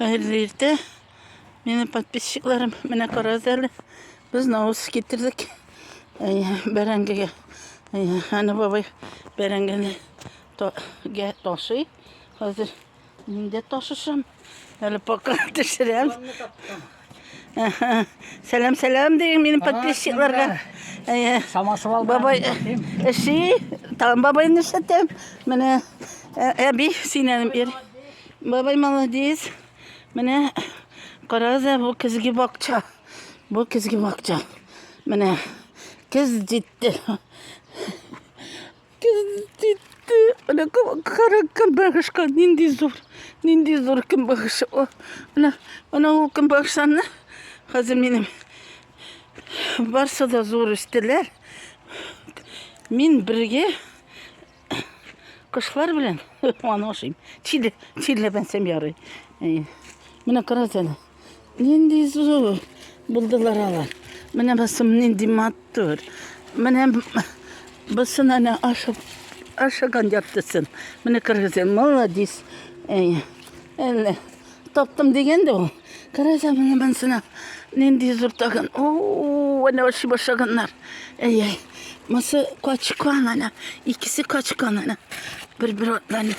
Хәерле иртә. Менә подписчикларым, менә карагыз әле. Без навыз китердек. Бәрәңгегә. Аны бабай бәрәңгене гә ташый. Хәзер мин дә ташышам. Әле пока төшерәм. Сәлам, сәлам дигән минем подписчикларга. Самасы алды. Бабай эши, там бабай нишләтәм? Менә әби синәнем ир. Бабай молодец. Менә карагыза бу көзге бакча. Бу көзге бакча. Менә көз җитте. Менә кара көнбагышка нинди зур, нинди зур көнбагыш. Менә менә ул көнбагышларны хәзер минем барсы да зур үстеләр. Мин бергә кошлар белән аны ашыйм. Чиле, чиле бәнсәм ярый. Менә карасәле. Нинди зур булдылар алар. Менә басым нинди матур. Менә басын әнә ашып ашаган яптысын. Менә кыргызы молодец. Әй, әллә таптым дигәнде ул. Караса менә бансына нинди зур тагын. О, әнә ашый башлаганнар. Әй, әй. Мысы качкан әнә. Икесе качкан әнә. Бер-бер атланып.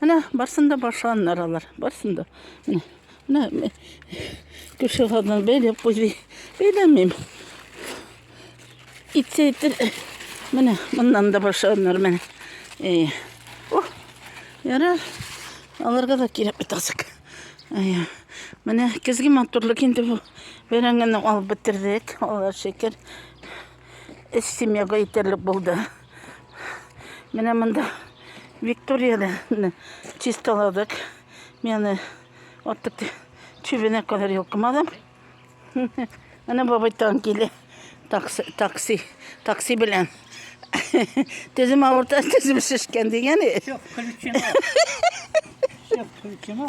Менә барсын да башланнар алар. Барсын да. Менә, менә күршеләрдән бәйләп куйды. Бәйләмим. Итсә итер. Менә моннан да башланнар менә. Э. О. Ярар. Аларга да кирәк бит азык. Э. Менә көзге матурлык инде бу. Бәрәңгене алып бетердек. Алар шикер. Өс семьяга итәрлек булды. Менә монда Викторияны чисталадык. Менә артык чүбенә кадәр йолкымадым. Менә бабай тан килә. Такси, такси, такси белән. Төзем авырта, төзем шешкән дигәне. Все включено. Все включено.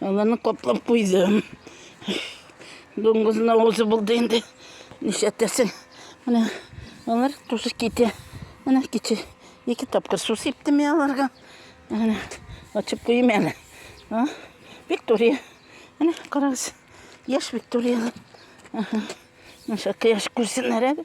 Аларны каплап куйдым. Дуңгызына узы булды инде. Нишләтәсең? Менә алар тусы китә. Менә кичә ике тапкыр су сиптем я аларга. Менә ачып куйым әле. А? Виктория. Менә карагыз. Яшь Виктория. Аха. Наша яшь күрсеннәр әле.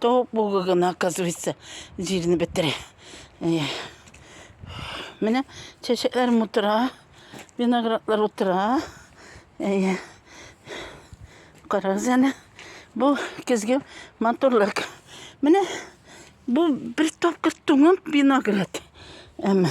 То бугы гына, оказывается, җирне бетерә. Менә чәчәкләрем утыра, виноградлар утыра. Әйе. Карагыз әле. Бу көзге матурлык. Менә бу бер тапкыр туңып виноград. Әмма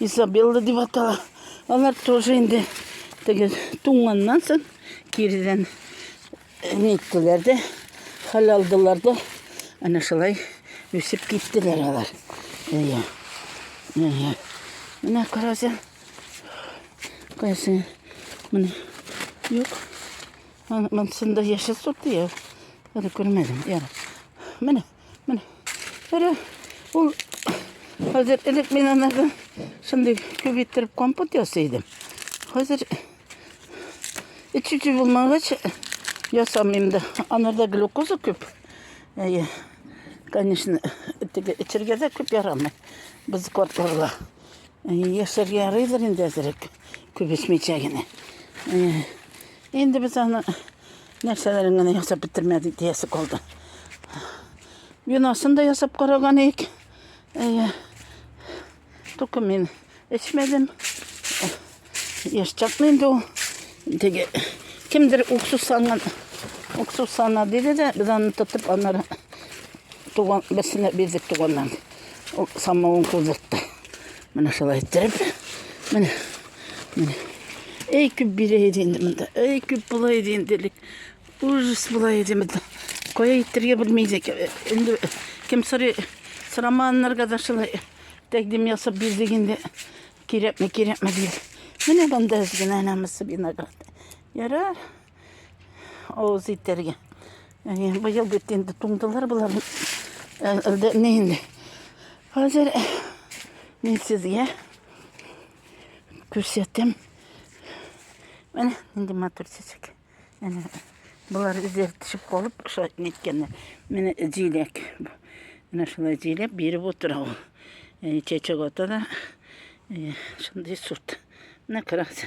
Изабелла дип атала. Алар тоже инде теге туңганнан соң киридән ниттеләр дә, хәл алдылар да, әнә шулай үсеп киттеләр алар. Әйе. Әйе. Менә караса, кайсы менә юк. Монсында яшел сорт дияр. Әле күрмәдем. Яра. Менә. Менә. Әле ул хәзер элек мин анага шундый күп иттереп компот ясый идем. Хәзер эчүче булмагач ясамыйм да. Анарда глюкоза күп. Әйе. Конечно, теге эчергә дә күп ярамый. Без кортларга. Яшәргә ярыйдыр инде әзерәк. Күп эчмичә генә. Инде без аны Нәрсәләрен генә ясап бетермәдек диясе калды. Виносын да ясап караган ик. Әйе. Только мин эчмәдем. Яшь чакны инде ул. Теге кемдер уксус салган. Уксус сана диде дә, без аны тотып аннары туган берсенә бирдек туганнан. Ул самавын куйдыртты. Менә шулай иттереп. Менә. Менә. Эй, күп бирә иде инде монда. Эй, күп була иде инде элек. Ужас була иде монда. Кая иттерергә белми идек. Инде кем сорый, сорамаганнарга да шулай тәкъдим ясап бирдек инде. Кирәкме, кирәкме дип. Менә монда генә анамысы виноград. Ярар. Авыз итәргә. Әне, быел бит инде туңдылар болар. Әлдә не инде. Хәзер мин сезгә күрсәтәм. Менә нинди матур чәчәк. Әнә Болар үзләре төшеп калып, шулай неткәннәр. Менә җиләк. Менә шулай җиләк биреп утыра ул. Чәчәк ата да шундый сорт. Менә карагыз.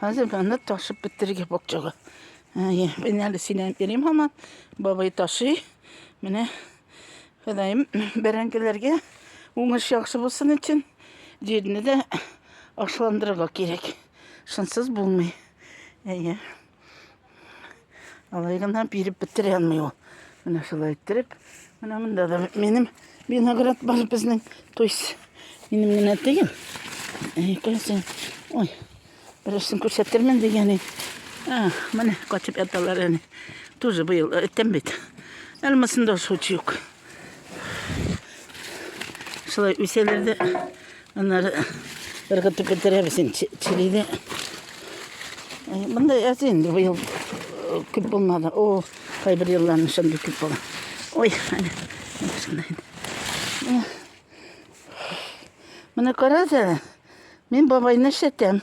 Хәзер аны ташып бетерергә бакчага. Әйе, мин әле синән йөрим һаман. Бабай ташый. Менә Ходаем бәрәңгеләргә уңыш яхшы булсын өчен җирне дә ашландырырга кирәк. Шынсыз булмый. Әйе. Алай гына биреп бетерә алмый ул. Менә шулай иттереп, менә монда да минем виноград бар безнең. То есть минем генә түгел. Икенче. Ой. Берсен күрсәтермен дигән. А, менә качып яталар әни. Тоже быел әйтәм бит. Әлмәсендә шучук. Шулай үсәләр дә, аннары ыргытып бетерәбез инде чилине. Монда аз инде быел э, күп булмады. О, кайбер елларны шундый күп була. Ой, әнә. Менә карасәле, мин бабайны эшләтәм.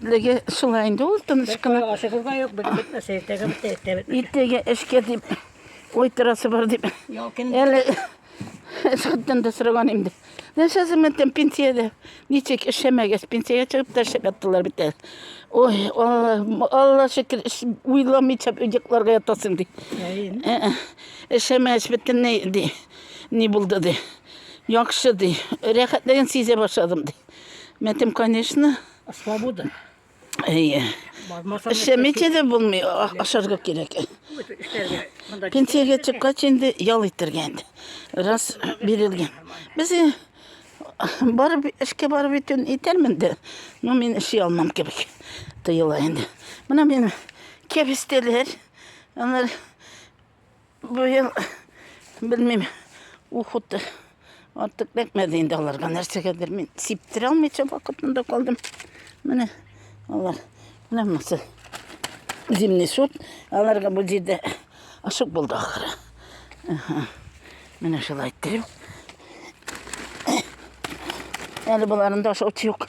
Леге шулай инде ул тыныч кына. Ашыгыз да юк, бик бит нәрсә иртәгә бит иртә бит. Иртәгә эшкә дип уйтрасы бар дип. Әле Сәттән дә сораган инде. Нәрсә зәмәттән пенсиядә? Ничек эшләмәгәс, пенсиягә чыгып та эшләп яттылар бит әле. Ой, Алла, Алла шөкер, уйламыйча йокларга ятасың ди. Эшләмәс бөтенләй ди. Ни булды ди. Яхшы ди. Рәхәтлеген сизә башладым ди. Мәтем, конечно. Свобода. Әйе. Эшләмичә дә булмый, ашарга кирәк. Пенсиягә чыккач инде ял итәргә инде. Раз бирелгән. Без барып эшкә барып итүен итәрмен дә, но мин эшли алмам кебек тоела инде. Менә мин кәбестәләр, алар Бу ел, белмим, ухуты артык бәкмәде инде аларга нәрсәгәдер. Мин сиптерә алмыйча вакытында калдым. Менә алар, менә монысы зимний сорт. Аларга бу җирдә ашык булды ахыры. Менә шулай иттереп. Әле боларында ашаучы юк.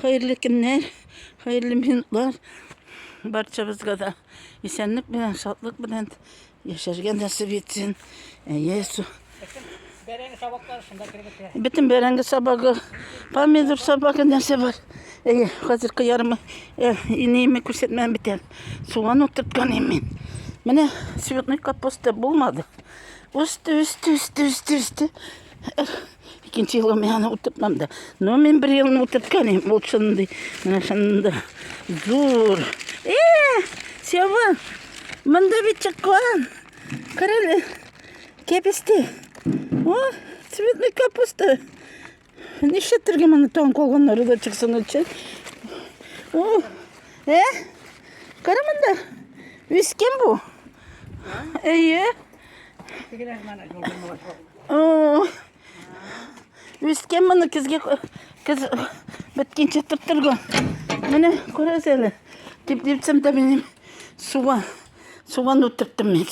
Хәерле көннәр, хәерле минутлар. Барчабызга да исәнлек белән, шатлык белән яшәргә насыйп итсен. Әйе, су. Бәрәңге сабаклары шунда кергән. Бөтен бәрәңге сабагы, помидор сабагы нәрсә бар. Әйе, хәзер кыярымы, э, инееме күрсәтмәм битәр. Суган утырткан мин. Менә цветной капуста булмады. Үсте, үсте, үсте, үсте, үсте. Икенче елга мин аны утыртмам да. Но мин бер елны утыртканым, ул шундый, менә шунда зур. Э, Сева, монда бит чыккан. Карале, кәбесте. О, цветный капуста. Нишлә тергә моны тон колганнары да чыксын өчен? О, э, кара монда. Вискем бу. Әйе. Тегеләр менә юлдан Үскән моны көзгә көз беткенче тоттырган. Менә күрәсез әле. Дип дипсәм дә мин суга суган утырттым мин.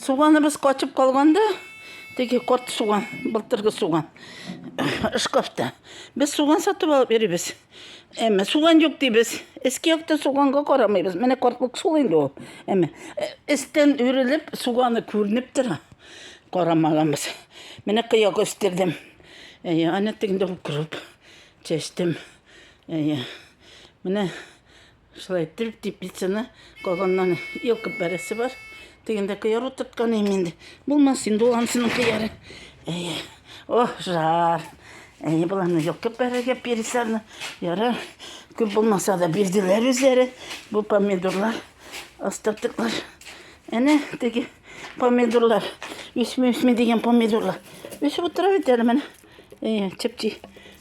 Суганыбыз качып калганда, теге корт суган, былтыргы суган шкафта. Без суган сатып алып йөрибез. Әмма суган юк дибез. Иске якта суганга карамыйбыз. Менә картлык сул инде ул. Әмма эстен э, үрелеп суганы күренеп тора. Карамаганбыз. Менә кыяк өстердем. Әйе, аны тегендә укырып чәчтем. Әйе. Менә Шулай иттереп теплицаны калганнан йолкып бәрәсе бар. Тегендә кыяр утырткан инде инде. Булмас инде ул анысының кыяры. Әйе. О, жар. Әйе, боларны йолкып бәрергә переселны. Ярар. Күп булмаса да бирделәр үзләре. Бу помидорлар, остатыклар. Әнә теге помидорлар. Үсми-үсми дигән помидорлар. Үсеп утыра бит әле менә. Әйе, чепчи.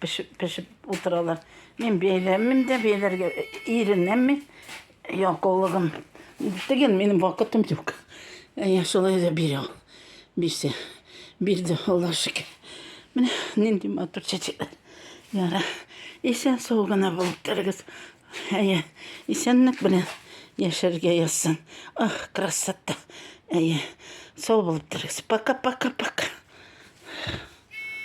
Пешеп, пешеп утыралар. Мин бәйләмим дә, бәйләргә иренәм мин. Ялкаулыгым. Дигән минем вакытым юк. Әйе, шулай да бирә. Бирсә. Бирде, Алла шөкер. Менә нинди матур чәчәкләр. Яра. Исән сау гына булып торыгыз. Әйе, исәнлек белән яшәргә язсын. Ах, красота. Әйе, сау булып торыгыз. Пока-пока-пока.